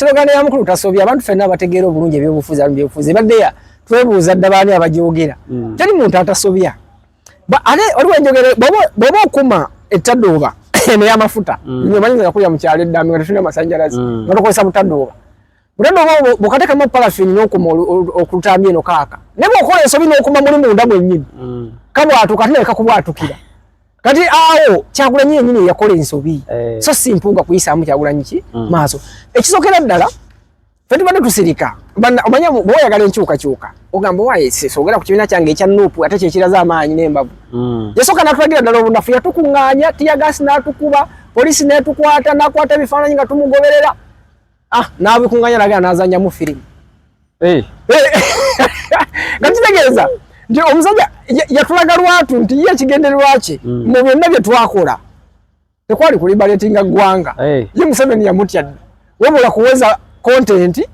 Sibogana ya mukulu tasobya abantu fena abategeera obulungi ebyobufuzi abamu byobufuzi ebadde ya twebuuza dda baani abagyogera mm. teri muntu atasobya ate waliwo enjogera bw'oba okuma ettadooba eno y'amafuta mm. nyo manyi nga kulya mu kyalo eddambi nga tetulina amasannyalazi mm. nga tukozesa butadooba butadooba bukatekamu palafini n'okuma okutambya eno kaaka naye bw'okola ensobi n'okuma muli munda mwennyini kabwatuka ate naleka kubwatukira kati awo kyagulanyi yenyini eyakola ensobi eh. so si mpuuga kuyisaamu kyagulanyi ki mm. maaso ekisokera ddala fe tubadde tusirika omanya bwoyagala enkyukakyuka ogamba waye sogera ku kibiina kyange ekya nupu ate kyekiraza amaanyi nembavu mm. yasooka natulagira ddala obunafu yatukuŋŋaanya tiyagasi natukuba polisi netukwata nakwata ebifaananyi nga tumugoberera ah n'abikunganya nagenda n'azannyamu firimu eh. eh. nga kitegeeza nti omusajja yatulaga lwatu nti ye ekigendererwa kye mm. mu byonna bye twakola tekwali kulibaletinga ggwanga eh. ye museveni yamutya dda wabula kuweza kontenti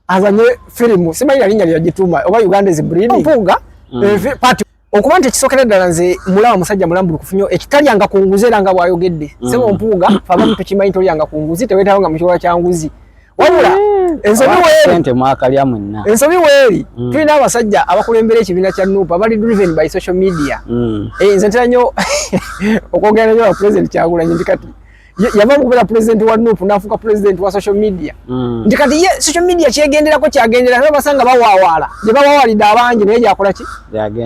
azanye firimu simanyi nalinnya lyagituuma oba uganda is breeding mpunga mm. pati okuba nti ekisokera ddala nze mulaba musajja mulambulukufu nyo ekitalyanga ku nguzi era nga bwayogedde mm. sebo mpuuga fabamu tukimanyi tolyanga ku nguzi tewetawo nga mukiwala kya nguzi wabula mm. ensobi weeri mwakalya mwenna ensobi weeri mm. tulina abasajja abakulembera ekibiina kya nupa abali driven by social media eh, nze ntera nyo okwogera nanyo wa president kyagulanyi ndi kati yava mukubeera pulezidenti wa nup nafuuka pulezidenti wa social media mm. nti kati ye social media kyegenderako kyagendera naye basanga bawawaala gye bawawalidde abangi naye gyakola ki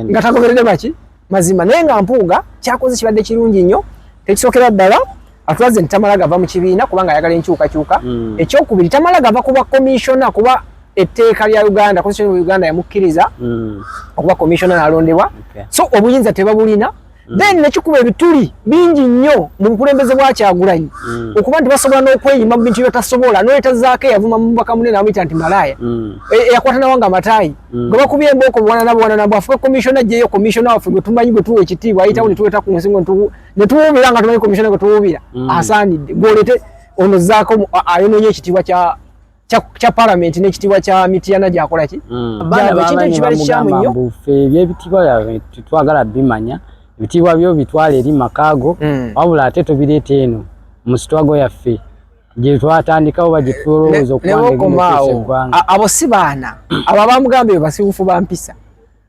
nga tagoberede baki mazima naye nga mpuuga kyakoze kibadde kirungi nnyo tekisookera ddala atulaze nti tamala gava mu kibiina kubanga ayagala enkyukakyuka mm. ekyokubiri tamala gava kuba komishona kuba etteeka lya uganda konstitution uganda yamukkiriza mm. okuba komishona nalondebwa so obuyinza tebabulina mm. then nekikuba ebituli bingi nnyo mu bukulembeze bwa kyagulanyi mm. okuba nti basobola n'okweyima mu bintu byebatasobola noyetazaako eyavuma mubaka mune namuyita nti malaaya mm. e, eyakwata nawo nga amataayi mm. gwe bakubye embooko buwanana buwanana bwe afuke komishona gyeyo komishona waffe gwe tumanyi gwe tuwa ekitiibwa ayitawo mm. netuweta ku nsi ngo netuwuubira nga tumanyi komishona gwe tuwuubira mm. asaanidde gwolete ono zaako ayononye ekitiibwa kya kya parliament ne kitibwa kya mitiyana gyakola ki mm. bana bakintu ekibali kyamu nnyo bufe byebitibwa twagala bimanya ebitibwa byo bitwale eri makago mm. wabula ate tobireeta eno mu sitwago yaffe gye twatandikawo bagitulowooza okuwangaeggwanga abo si baana abo abamugamba ebyo basiwufu bampisa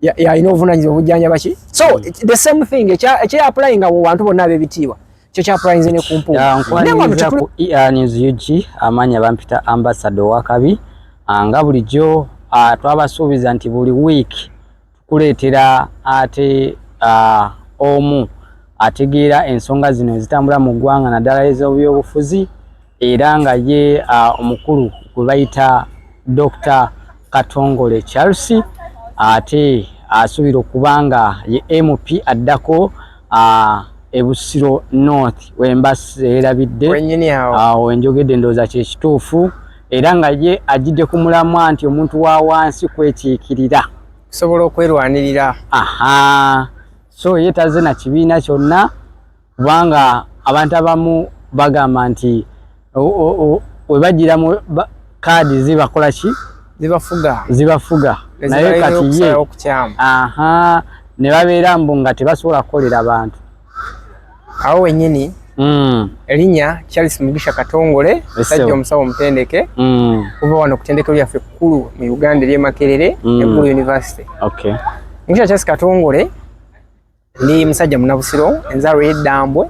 yalina obuvunanyizibwa obujjanjaba ki so hmm. the same thing ekyeapulayinga mu bantu bonna ab'ebitiibwa kyo kyapulayinze ne ku mpuunkwaniriza ku earnings ug amaanyi abampita ambasado wakabi ah, nga bulijjo ah, twabasuubiza nti buli week tukuleetera ate ah, omu ategeera ensonga zino ezitambula mu ggwanga naddala ez'obyobufuzi era nga ye omukulu gwe bayita Dokita Katongole Charles ate asuubira okuba nga ye MP addako ebusiro north wembaseerabidde awo enjogedde ndowooza kyekituufu era nga ye ajjidde ku mulamwa nti omuntu wa wansi kwekiikirira kusobola okwerwanirira aha so ye tazze na kibiina kyonna kubanga abantu abamu bagamba nti webajiramu kaadi zibakola ki zibafuga zibafuga naye kati ye aha ne babeera mbu nga tebasobola kukolera bantu awo wenyini Mm. Elinya Charles Mugisha Katongole sajja omusawo omutendeke mm. kuva wano kutendeke lya fe kulu mu Uganda lye Makerere mm. Ekulu University. Okay. Mugisha Charles Katongole Ndi musajja munabusiro enzalwa y'eddambwe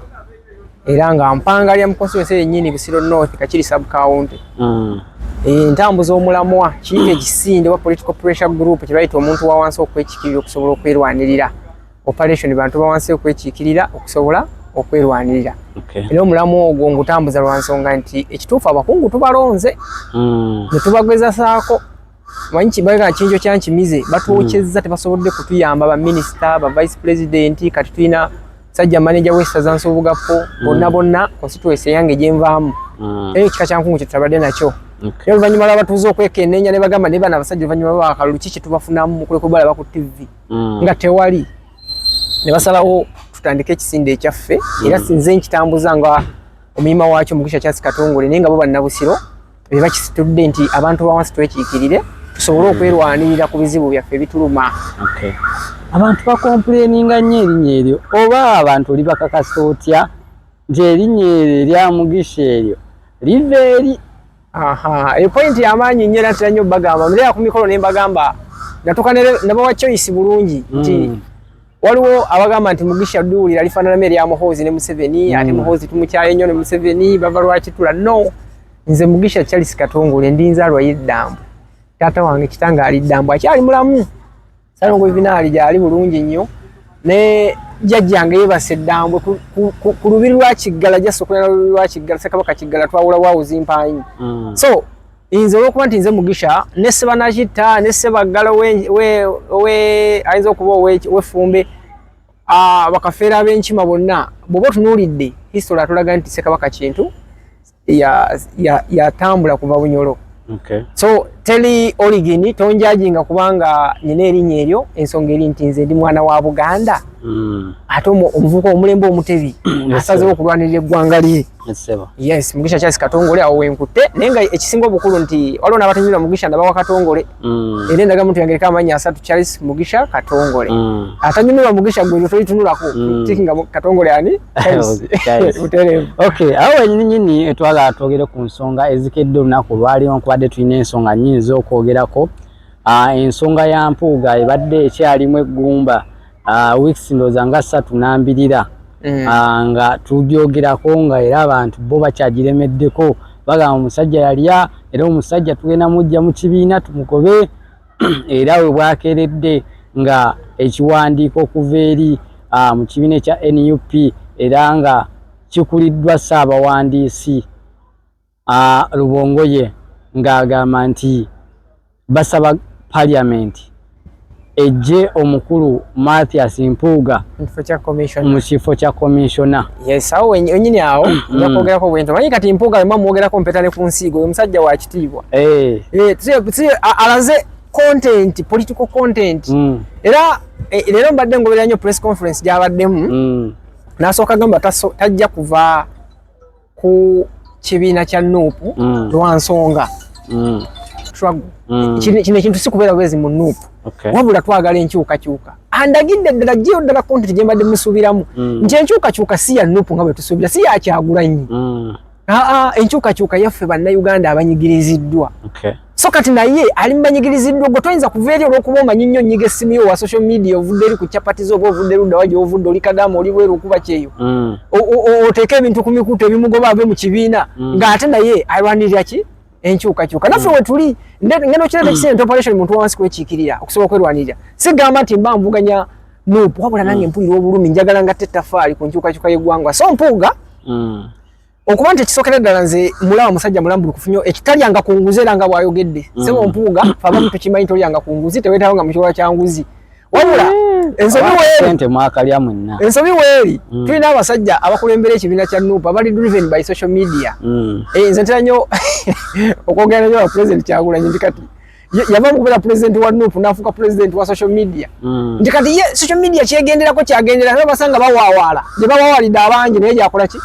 era nga mpanga lya mukonstituensi yennyini busiro north kakiri sub county mm. entambuza omulamwa kiika ekisinde oba political pressure group kye bayita omuntu wa wansi okwekikirira okusobola okwerwanirira operation bantu bawansi okwekikirira okusobola okwerwanirira era omulamu ogwo ngutambuza lwa nsonga nti ekituufu abakungu tubalonze mm. ne tubagezasaako manyi kibaga kinjo kyankimize batwokyezza tebasobodde kutuyamba ba minister ba vice president kati tulina sajja manager w'essaza nsobugappo mm. bonna bonna constituency yange gye nvaamu mm. eyo kika kyankungu kyetutabadde nakyo naye oluvannyuma lwabatuuza okwekenneenya ne bagamba naye bana abasajja oluvannyuma lwakalulu ki kyetubafunamu kulekubalaba ku ttivvi mm. nga tewali ne basalawo tutandike ekisinde ekyaffe era sinze nkitambuza nga omuyima waakyo mugisha kyasi katongole naye nga bo bannabusiro Biba kisitudde nti abantu bawansi twekiikirire tusobole hmm. okwerwanirira ku bizibu byaffe bituluma. Okay. Abantu bakompuleninga nnyo erinnya eryo oba abantu oli bakakasa otya nti erinnya eryo erya mugisha eryo liva eri. Aha, eyo pointi y'amaanyi nnyo era nnyo bagamba, mbeera ku mikolo ne mbagamba natuka ne bawa choice bulungi nti mm. waliwo abagamba nti mugisha duwulira lifaananamu erya muhoozi ne museveni mm. ate muhoozi tumukyaye nnyo ne museveni bava lwakitula no nze mugisha charles katongole ndi nzaalwa yeddambo taata wange kitanga ali ddambo akyali mulamu salongo vinaali gyali bulungi nnyo ne jajjange yebase ddambwe ku lubiri lwa kiggala jasokolera lubiri lwa kiggala sekabaka kiggala twawulawo awuzi mpaanyi mm. so nze olwokuba nti nze mugisha ne sebanakitta ne sebaggala ayinza okuba owefumbe bakafeera abenkima bonna bwoba otunuulidde history atulaga nti sekabaka kintu yatambula kuva bunyolo so teli origin tonjajinga kubanga nyina erinya eryo ensonga eri nti nze ndi mwana wa buganda mm. ate omuvuka omulembe omutebi asazewo okulwanirira eggwanga lye Yes, Mugisha Charles Katongole awo wenkute naye nga ekisinga obukulu nti waliwo n'abatanyumirwa Mugisha ndabawa Katongole mm. era endaga muntu yangereka amannya asatu Charles Mugisha Katongole mm. atanyumirwa Mugisha gwe toyitunulako mm. tikinga Katongole ani butereevu okay awo wenyini nyini etwala twogere ku nsonga ezikedde olunaku lwaliwo nkubadde tulina ensonga nyingi z'okwogerako ah, ensonga ya mpuuga ebadde ekyalimu eggumba ah, weeks ndowooza nga ssatu nambirira mm. ah, nga tugyogerako nga era abantu bo bakyagiremeddeko bagamba omusajja yalya era omusajja tugenda mujja mu kibiina tumugobe era we bwakeeredde nga ekiwandiiko okuva eri ah, mu kibiina ekya nup era nga kikuliddwa ssaabawandiisi Ah, Lubongoye ng'agamba nti basaba parliament ejje omukulu Mathias Mpuuga mu kifo kya commissioner. Yes, awo wenyini awo nga mm. kwogerako bwento manyi kati Mpuuga wemba mwogerako mpeta ne ku nsiigo oyo musajja wa kitiibwa eh. Eh, alaze content political content mm. era eh, leero mbadde ngoberera nnyo press conference gyabaddemu mm. nasooka gamba tajja kuva ku kibiina kya nuupu mm. lwa nsonga mm. mm. kino ekintu si kubeera bwezi mu nuupu wabula twagala enkyukakyuka andagidde ddala gyeyo ddala kontenti gye mbadde musuubiramu nti enkyukakyuka si ya nuupu nga bwe tusuubira si yakyagulanyi aa enkyukakyuka yaffe bannayuganda abanyigiriziddwa so kati naye ali mubanyigiriziddwa ogwo toyinza kuva eri olwokuba omanyi nnyo nyiga essimu yo wa social media ovudde eri ku chapati zo oba ovudde luddawa gyovudde oli kadaama oli bweru okuba kyeyo mm. oteeka ebintu ku mikutu ebimugoba ave mu kibiina mm. ng'ate naye alwanirira ki enkyukakyuka naffe mm. wetuli ngenda okiraba ekisente operation muntu wansi kwekiikirira okusobola okwerwanirira sigamba nti mba nvuganya nup wabula nange mpulira obulumi njagala ngatta ettafaali ku nkyukakyuka y'eggwanga so mpuuga okuba nti ekisokera ddala nze mulaba musajja mulambulukufu nyo ekitalyanga ku nguzi era nga bwayogedde mm. sebo mpuuga fabamu tukimanyi tolyanga ku nguzi tewetawo nga mukiwala kya nguzi wabula mm. ensobi weeri ensobi weeri mm. tulina abasajja abakulembera ekibiina kya nup abali driven by social media eh, nze ntera nyo okwogera nanyo wa president kyagulanyi ndi kati yava mukubera president wa nup nafuka president wa social media mm. nti kati ye social media kyegenderako kyagendera naye basanga bawawaala gye bawawalidde abangi naye gyakola ki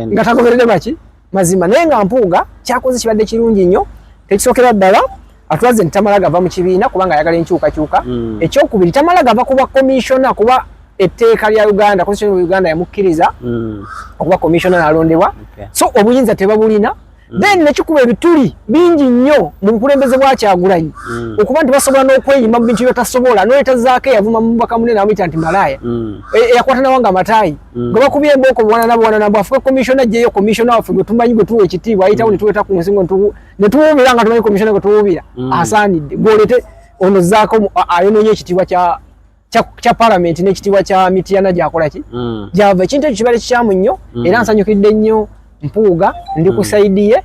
nga tagoberede baki mazima naye nga mpuuga kyakoze kibadde kirungi nnyo tekisookera ddala atulaze nti tamala gava mu kibiina kubanga ayagala enkyukakyuka mm. ekyokubiri tamala gava kuba komishona kuba etteeka lya uganda constitution of uganda yamukkiriza mm. okuba komishona nalondebwa okay. so obuyinza tebabulina mm. then nekikuba ebituli bingi nnyo mu bukulembeze bwa kyagulanyi mm. okuba nti basobola n'okweyima mu bintu byetasobola n'oletazaako eyavuma mu mubaka munene amuyita nti malaaya mm. e, eyakwata nawo nga amataayi gwe bakubye embooko buwanana buwanana bwe afuke komishona gyeyo komishona waffe gwe tumanyi gwe tuwa ekitiibwa ayitawo ne tuweta ku nsingo ne tuwuubira nga tumanyi komishona gwe tuwuubira asaanidde gweolete ono zaako ayonoonye ekitiibwa kya kya parliament n'ekitiibwa kya mitiyana gyakola ki mm. gyava ekintu ekyo kibale kikyamu nnyo mm. era nsanyukidde nnyo mpuuga ndi ku mm. saidi ye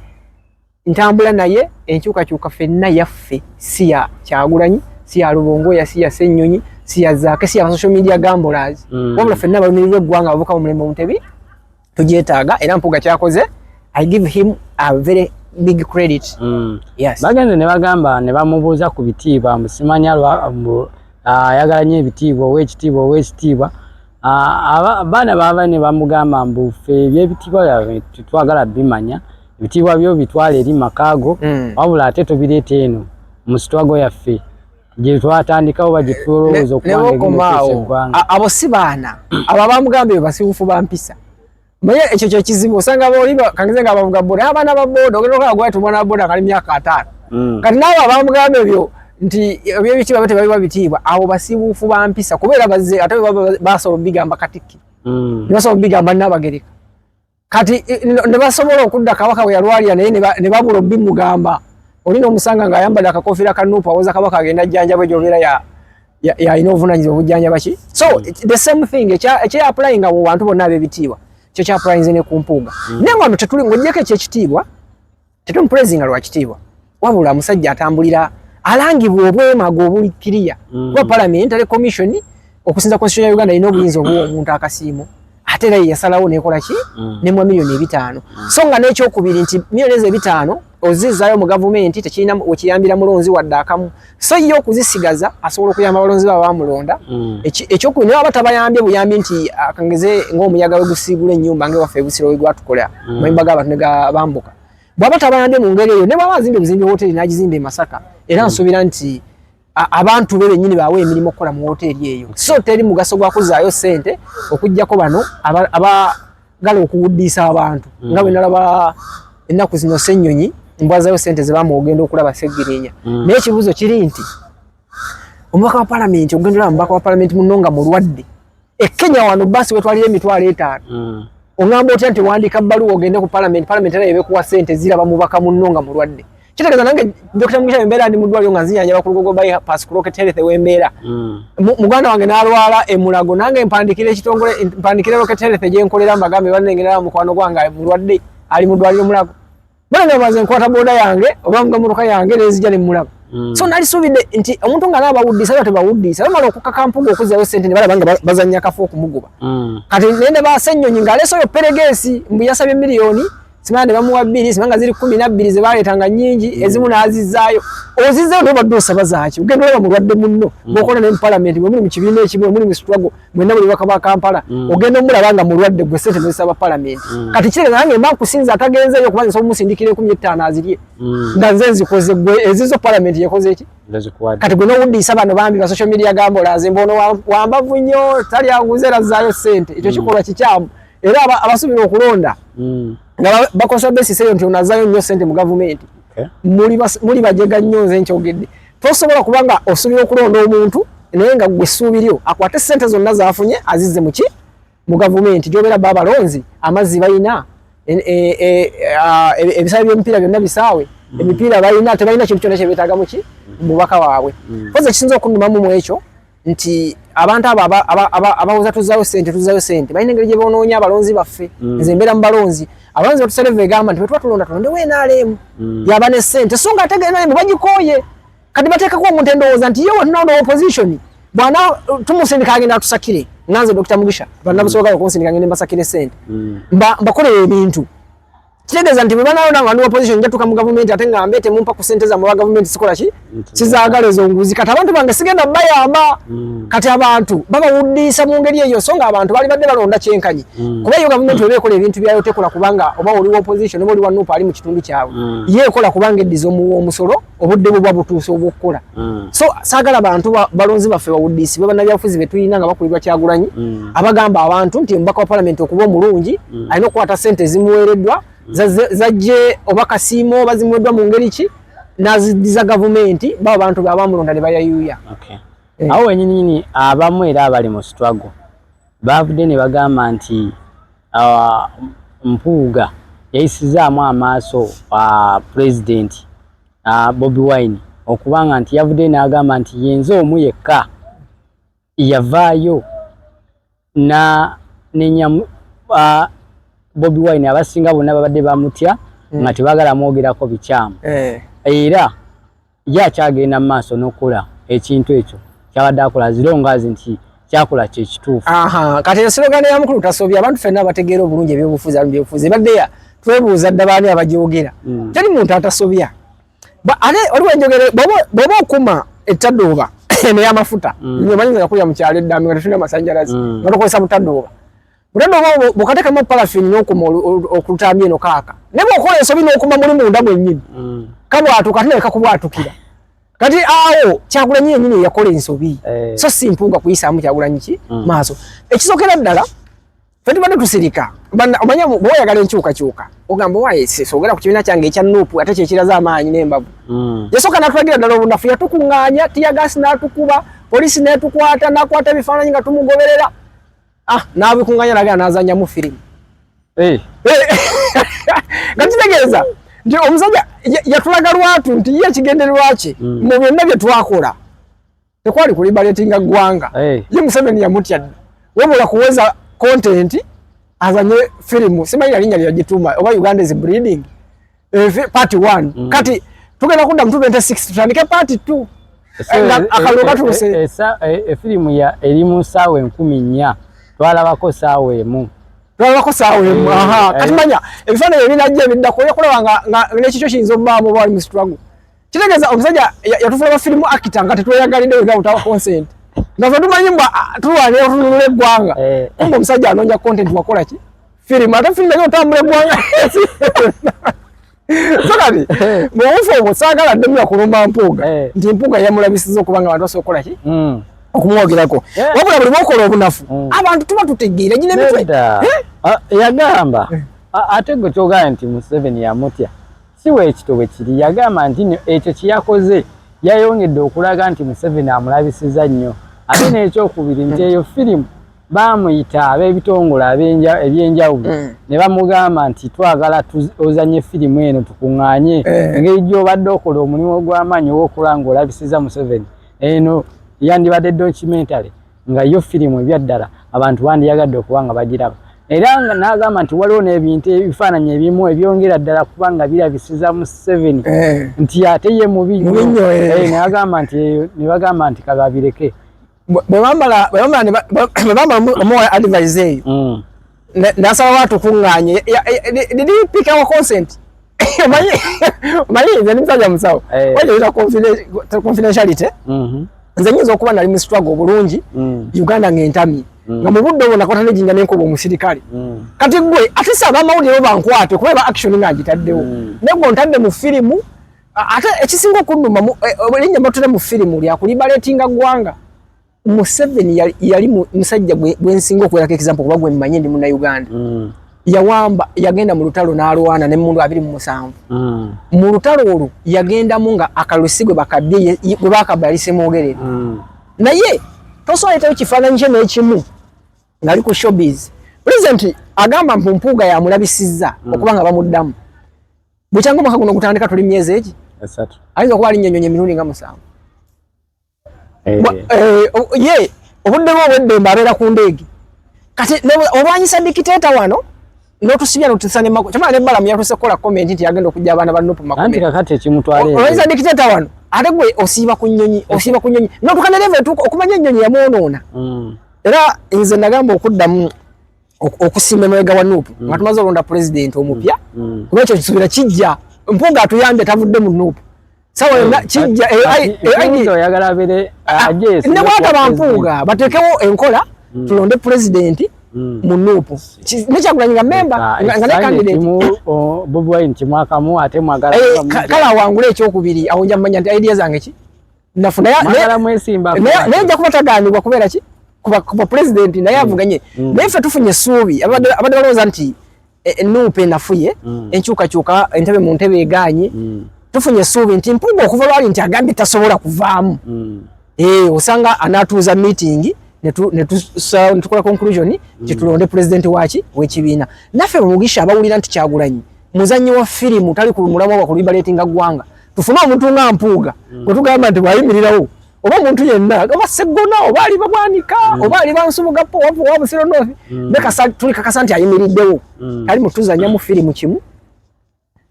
ntambula naye enkyukakyuka fenna yaffe si ya kyagulanyi si ya lubongoya si ya sennyonyi si ya zaake si ya basocial media gambolas wabula fenna balumirirwa eggwanga bavuka mu mulembe omutebi tujetaaga era mpuga kyakoze i give him a very big credit mm. yes. bagenze ne bagamba ne bamubuuza ku bitiibwa musimanya ayagala nyo ebitiibwa owekitiibwa owekitiibwa abaana baba ne bamugamba mbufe ebyebitiibwa byabwe tetwagala bimanya ebitiibwa byo bitwala eri makaago mm. wabula ate tubireeta eno mu sitwago yaffe gyetwatandikawo bagitulowooza okuwaneggwanga abo si baana abo abamugamba ebyo basiwufu ba mpisa naye ekyo kyekizibu osanga boliba kangize nga bavuga boda naye abaana ba boda ogenda okaa gwati omwana wa boda kali myaka ataano mm. kati naawe abamugamba ebyo nti ebyebitiibwa byo tebaliwa bitiibwa abo basiwufu ba mpisa kubeera bazze ate basobola obigamba katikkiro mm. basobola obigamba nabagereka kati ne basobola okudda kabaka bwe yalwalira naye ne babula obimugamba oli n'omusanga ng'ayambadde akakofiira ka nuupu awoza kabaka agenda jjanjabwe gyobeera yalina obuvunanyizibwa obujjanjaba ki so hmm. the same thing ekyeapulayinga mu bantu bonna ab'ebitiibwa kyekyapulayinze ne ku mpuuga hmm. naye nga no tetuli ng'ogyeko ekyekitiibwa tetumupulezinga lwa kitiibwa wabula omusajja atambulira alangibwa obwemago obuli kiriya mm. kuba palamenti ali komisioni okusinza konstitution ya uganda erina obuyinza obuwa omuntu akasiimo ate era yeyasalawo nekola ki mm. nemwa miliyoni ebitaano mm. so nga n'ekyokubiri nti miliyoni ezo ebitaano ozizaayo mu gavumenti tekirina wekiyambira mulonzi wadde akamu so ye okuzisigaza asobola okuyamba abalonzi ba bamulonda mm. ekyokubi naye aba tabayambye buyambi nti akangeze ah, ngaomuyaga wegusiibula ennyumba nga ewaffe ebusiro wegwatukola mm. mayumba g'abantu ne gabambuka bwaba tabayambye mu ngeri eyo ne bwaba azimba ebuzimbi wooteeri n'agizimba e masaka era mm. nsuubira nti abantu be bennyini baawe emirimu okukola mu wooteeri eyo so teri mugaso gwa kuzaayo ssente okugyako bano ngala okuwuddiisa abantu mm. nga bwe nalaba ennaku zino ssennyonyi mbwazayo sente zebamu ogenda okulaba segirinya mm. naye ekibuuzo kiri nti omubaka wa palamenti ogenda olaba mubaka wa palamenti muno nga mulwadde e kenya wano basi wetwalira emitwalo etaano mm. ongamba otya nti wandiika bbaluwa ogende ku palamenti palamenti era yebekuwa sente ziraba mubaka muno nga mulwadde kitegeeza nange dokita mugisha embeera ndi mudwaliro nga nzinyanyaba ku lugogo by pass crocket health wembeera mm. muganda wange nalwala emulago nange mpandikira ekitongole mpandikira rocket health gyenkolera mbagambe banengerera mukwano gwange mulwadde ali mudwaliro mulago bona nabaze nkwata boda yange oba nga motoka yange nezija ne mulago mm. so nalisuubidde nti omuntu nga naaba wuddisa aba tebawuddisa bamala okukaka mpuga okuzayo sente nebalaba nga bazanya kafu okumugoba mm. kati nende basenyonyi nga alesoyo peregeesi mbu yasabye miliyoni simanya ne bamuwa bbiri simanga ziri kumi na bbiri ze baleeta nga nnyingi mm. ezimu n'azizzaayo ozizzaayo naye obadde osaba zaaki ogenda olaba mulwadde munno mm. bwokola naye mu palamenti mwe muli mu kibiina ekimu muli mu situlago mwena buli baka ba kampala mm. ogenda omulaba nga mulwadde gwe sente nozisaba palamenti kati kirega nange mba nkusinza atagenzeeyo okuba nsobola omusindikira ekumi ettaano azirye nga nze nzikoze gwe ezizo palamenti yekoze eki kati gwe nowuddiisa bano bambi ba social media gambola nze mbaono wambavu nnyo tali aguze era zzaayo sente ekyo kikolwa kikyamu era abasubira okulonda hmm. nga bakozesa besisi eyo nti onazayo nnyo sente mu gavumenti muli bajega nnyo nze nkyogedde tosobola kuba nga osubira okulonda omuntu naye nga gwe essuubi lyo akwate sente zonna zafunye azizze muki mu gavumenti gyobeera ba abalonzi amazzi balina e, e, e, ebisaawe byemipiira byonna bisaawe hmm. emipiira balina tebalina kintu kyona kyebetagamuki mububaka waabwe kozi hmm. ekisinza okunumamu mwekyo nti abantu abo abawoza tuzayo sente tuzayo sente balina engeri gye bonoonya abalonzi baffe mm. nze mbeera mu balonzi abalonzi batusereva egamba nti bwetuba tulonda tulonde wenaalemu mm. yaba ne sente so nga ategenalemu bagikooye kati bateekako omuntu endowooza nti yewe tunawo ne opposition bwana tumusindika agenda atusakire nga nze dokita mugisha banabusoboka mm. okunsindika ngende mbasakire sente mbakolera ebintu kitegeeza nti bwebanalonda nga ndi opposition njatuka mu gavumenti ate nga mbe temumpa ku sente zamwe wa gavumenti sikola ki sizagala ezo nguzi kati abantu bange sigenda bayamba mm. kati abantu babawuddiisa mu ngeri eyo so nga abantu bali badde balonda kyenkanyi mm. kuba eyo gavumenti oba ekola ebintu byayo tekola kubanga oba oli wa opposition oba oli wa nuupa ali mu kitundu kyabwe mm. ye ekola kubanga eddiza omuwa omusolo obudde buba butuuse obwokukola mm. so saagala bantu balonzi baffe bawuddiisi bwe bannabyabufuzi be tulina nga bakulirwa kyagulanyi mm. abagamba abantu nti omubaka wa palamenti okuba omulungi mm. alina okukwata sente ezimuweereddwa zajje oba kasiimo oba zimuweddwa mu ngeri ki nazidiza gavumenti baba bantu beabamulonda ne bayayuuya eh. awo wenyininyini abamu era abali mu struggle Baavudde ne bagamba nti Mpuuga yayisizaamu amaaso Pulezidenti Bobi Wine okubanga nti yavuddeyo n'agamba nti yenze omu yekka yavaayo n'anenya Bobi Wine abasinga bonna babadde bamutya nga tebagala mwogerako bikyamu eh. era Ye akyagenda mu maaso n'okukola ekintu ekyo kyabadde akola as long as nti kyakula kye kituufu. Aha, kati ensilogano ya mukulu tasobya abantu fenna abategeera obulungi ebyobufuzi abamu byobufuzi ebadde ya twebuuza dda baani abagyogera mm. teri muntu atasobya ate oliwo enjogera bw'oba okuma ettadooba eno y'amafuta mm. nyo omanyi nga yakulira mu kyalo eddaami nga tetulina amasannyalazi mm. nga tukozesa butadooba Mutendo oba bukatekamu parafini n'okuma okulutamya eno kaaka ne bw'okola ensobi n'okuma muli munda mwennyini mm. kabwatuka ate naleka kubwatukira kati awo kyagulanyi yennyini eyakola ensobi eh. so si mpunga kuyisaamu kyagulanyi ki mm. maaso ekisokera ddala fe tubadde tusirika omanya bwe oyagala enkyukakyuka ogamba wayesesa ogenda ku kibiina kyange ekya nuupu ate kyekiraze amaanyi n'embavu mm. yasooka natulagira ddala obunafu yatukuŋŋaanya tiyagaasi n'atukuba poliisi n'etukwata n'akwata ebifaananyi nga tumugoberera Ah, n'abikunganya nagenda n'azannyamu firimu. Eh. Nga kitegeeza nti omusajja yatulaga lwatu nti ye ekigendererwa kye hmm. mu byonna bye twakola tekwali kulibaletinga ggwanga. Eh. Ye Museveni yamutya dda. Wabula kuweza kontenti azanye firimu simanyi nalinnya lyagituuma oba Uganda is breeding. Evi part 1. Mm. Kati tugenda kudda mutuba ente 6 tutandike part 2. Akalunga eh, eh, tuse. Eh, Esa e film ya elimu sawe nkumi nya. Twala wako sawe mu. Twala wako sawe mu. Aha. Kati manya. Evi fana yobina jia vidda kwa ya kula wanga. Nga nechicho shinzo mbamu wali mstrangu. Kitegeeza omusajja yatufuula ba firimu akita nga tetweyagalidde wega utawa consent nga fe tumanyi mbwa ah, tulwanira otununula eggwanga eh. kumba omusajja anoonya content wakola ki firimu ate firimu naye otambula eggwanga so kati eh. mu bufu obwo saagala ddemu yakulumba mpuuga eh. nti mpuuga yamulabisiza okuba nga abantu basobola okukola ki hmm. okumwogerako wabula buli bwokola obunafu hmm. abantu tuba tutegeera gina emitwe ah, yagamba ah, ate gwe kyogamba nti museveni yamutya Si bwekito bwe kiri. Yagamba nti no ekyo kye yakoze yayongedde okulaga nti Museveni amulabisiza nnyo ate n'ekyokubiri nti eyo firimu baamuyita ab'ebitongole eby'enjawulo mm. ne bamugamba nti twagala ozanye firimu eno tukunganye eh. engeri gy'obadde okola omulimu ogw'amaanyi ow'okulanga olabisiza Museveni eno yandibadde documentary nga yo firimu ebyaddala abantu bandiyagadde okuba nga bagiraba era nga n'agamba nti waliwo n'ebintu ebifaananyi ebimu ebyongera ddala kuba nga birabisiza museveni eh. nti ate ye mubi nyo eh. eh, nagamba nti ne bagamba nti kababireke bwebamala omuwa advise eyo mm. nasaba watu kunganye did you pick our consent mali mali nze nimsaja msawo eh. waje ita confidentiality mhm nze nyizo kuba na limu struggle bulungi mm. uganda ngentami mm. nga mubudde obona kwata ne jinga nenko bomusirikali mm. kati gwe atisa ba maudi roba nkwate kuba ba action nga agitaddewo mm. nego ntadde mu filimu ate ekisinga okuduma mu e, e, linya mbatule mu filimu lya kulibaletinga gwanga Museveni yali, yali musajja gwensinga okuwerako example kuba gwe mmanyi ndi muna Uganda mm. yawamba yagenda mu lutalo n'alwana ne mundu abiri mu musanvu mm. mu lutalo olwo yagendamu nga akalusi gwe bakabbye gwe bakabba yali semwogerere mm. naye tosobola kifaananyi kye n'ekimu ng'ali ku showbiz present agamba mpu mpuuga yamulabisizza mm. okuba nga bamuddamu bukyanga omwaka guno gutandika tuli myezi egi ayinza okuba alinnyonyonya emirundi nga musanvu eh. Eh, ye obudde bwo obweddembe abeera ku ndeege kati olwanyisa dikiteeta wano notusibya notisa ne mako chama ne bala mya tuse kola comment nti agenda okujja abana ba nupu mako anti kakati ekimutwale oyiza dictator wano ate gwe osiba kunyonyi osiba kunyonyi notukana level tuko okumanya nyonyi ya muonoona mm. era inze nagamba okuddamu okusimba emabega wa nup mm. nga tumaze olonda pulezidenti omupya mm. mm. kuba ekyo kisuubira kijja mpunga atuyambye tavudde mu nup sawa yonna kijja nebwataba mpunga bateekewo enkola tulonde pulezidenti mu nup nekyagulanyi nga memba ah, nga nekandidatekale awangule ekyokubiri awo nja mumanya nti idea zange ki nafu naye naye nja kuba taganibwa kubeera ki kuba kuba president naye mm. avuganye mm. naye ffe tufunye essuubi abadde balowooza nti e, e, nuupa enafuye mm. enkyukakyuka entebe mu ntebe eganye tufunye essuubi nti mpuga okuva lwali nti agambye tasobola kuvaamu eh, osanga anatuuza meeting netukola conclusion nti tulonde president waki wekibiina naffe mugisha abawulira nti kyagulanyi muzanyi wa firimu tali ku mulamwa gwa kulibaletinga ggwanga tufune omuntu nga mpuuga mm. gwetugamba nti bwayimirirawo oba omuntu yenna oba seggona oba ali babwanika mm. oba ali bansubugapo wa busiro nothi mm. tuli kakasa nti ayimiriddewo mm. tali mutuzanya mu firimu kimu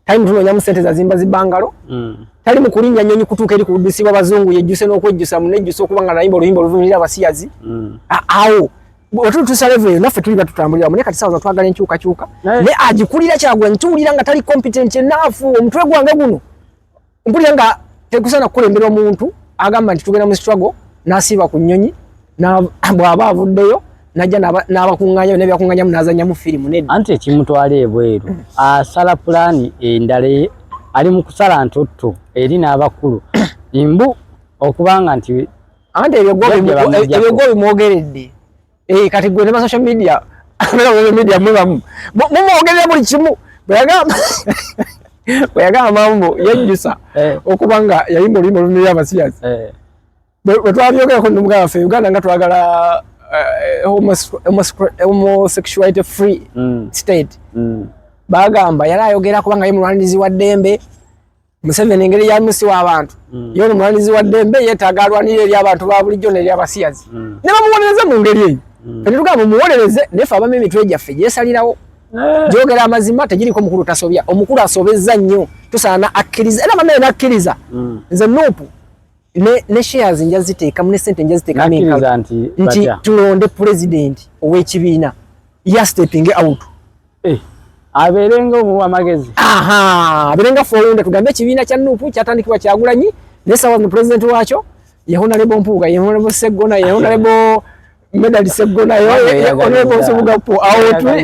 tali mutunonyamu sente zazimba zibangalo mm. tali mukulinnya nyonyi kutuuka eri kuwudisibwa bazungu yejjuse n'okwejjusa munejjusa okuba nga nayimba oluyimba oluvumirira abasiyazi mm. awo ah, otutusa level eyo naffe tuliba tutambulira mu ne kati sawa twagala enkyuka kyuka ne agikulira kyagwa ntuulira nga tali competent enough omutwe gwange guno mpulira nga tekusana kukulembera omuntu agamba nti tugenda mu struggle nasiiba ku nnyonyi bw'aba avuddeyo najja n'abakuŋŋaanyamu n'ebyakuŋŋaanyamu n'azannyamu firimu nedda anti ekimutwala ebweru asala pulaani endala e, ali mu kusala ntutto eri n'abakulu mbu okubanga nti anti ebyo gwo bimwogeredde eh, kati gwe nema social media media mubamu mumwogerera buli kimu bweyagamba bweyagamba mambo yejjusa eh. okuba nga yayimba oluyimba oluniri abasiyazi eh. bwetwabyogerako nomugaa waffe uganda nga twagala homosexuality free mm. state mm. bagamba yali ayogera kubanga ye mulwanirizi wa ddembe Museveni engeri yamisi wa abantu mm. yo no mwanizi wa dembe yetaga alwanire eri abantu ba bulijjo ne abasiyazi mm. ne bamuwonereza mu ngeri eyo mm. ne tuga mu muwonereze ne fa bameme mitwe jaffe yesalirawo eh. jogera amazima tejiri ko mukuru tasobya omukuru asobezza nnyo tusana akiriza era bameme nakiriza mm. nze nupu ne ne shares nja ziteeka mu ne sente nja ziteeka mimi nti tulonde president owekibina ya stepping out eh, abeerenga omuwa amagezi abeerenga fowunda tugambe ekibiina kya nuupu kyatandikibwa kyagulanyi naye sawa no pulezidenti waakyo yehonalebo mpuuga yehonalebo seggona yehonalebo medali seggona yehonalebo nsubugapo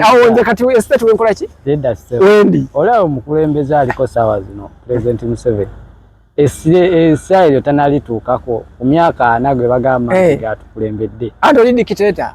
awo nze kati estate wenkola ki wendi olaba omukulembeze aliko sawa zino pulezidenti museveni esira eryo tanalituukako ku myaka ana gwe bagamba eh. nti gatukulembedde anti oli dikiteta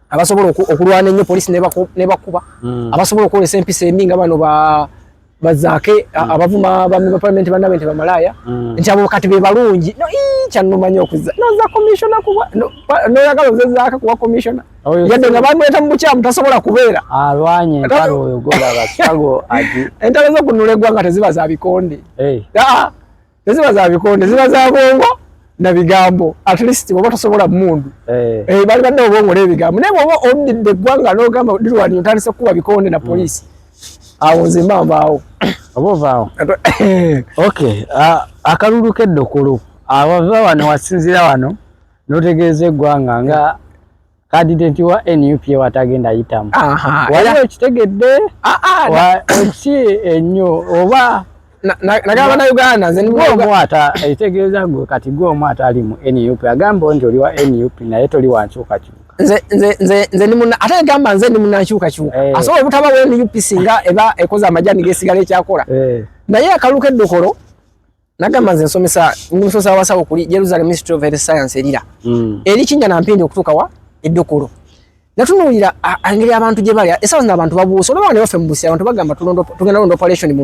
abasobola okulwana ennyo poliisi nebakuba hmm. abasobola okwolesa empisa embi nga bano bazaake hmm. abavuma bami ba palamenti banabe nti bamalaaya hmm. nti abo kati bebalungi kyanumanya okuza noza komisiona kuba noyagala oze zaaka kuba komisiona oh, yadde nga bamweta mu bukyamu tasobola kubeera alwanye entalo oyo golabasago ati entalo zokunula eggwanga teziba za bikonde eh. ah, ah. teziba za bikonde ziba za bwongo na bigambo at least bwoba tosobola mundu eh. eh, bali badde obwongo n'ebigambo naye bwoba omdidde eggwanga n'ogamba lirwani otandise kukuba bikonde na mm. poliisi awo nze mba mbaawo oba ovaawo ok akalulu keddukulu abava wano wasinzira wano notegeeza eggwanga nga kadidenti wa nup watagenda yitamu waliwo ekitegedde ah, ah, ki ennyo oba nagamba na uganda nze omu ata ekitegeeza gwe kati gwe omu ata ali mu nup agamba nti oli wa nup naye toli wankyukakyuka ate agamba nze ndi munankyukakyuka eh. asobola obutaba wa nup singa eba ekoze amajani gesigala ekyakola eh. naye akaluka eddokolo nagamba nze nsomesa ndi musomesa wabasawo kuli jerusalem ministry of health science erira mm. eri kinja nampindi okutuuka wa eddokolo natunuulira engeri abantu gye balya esaawa zino abantu babuuse olaba ne baffe mu busi abantu bagamba tugenda londa operation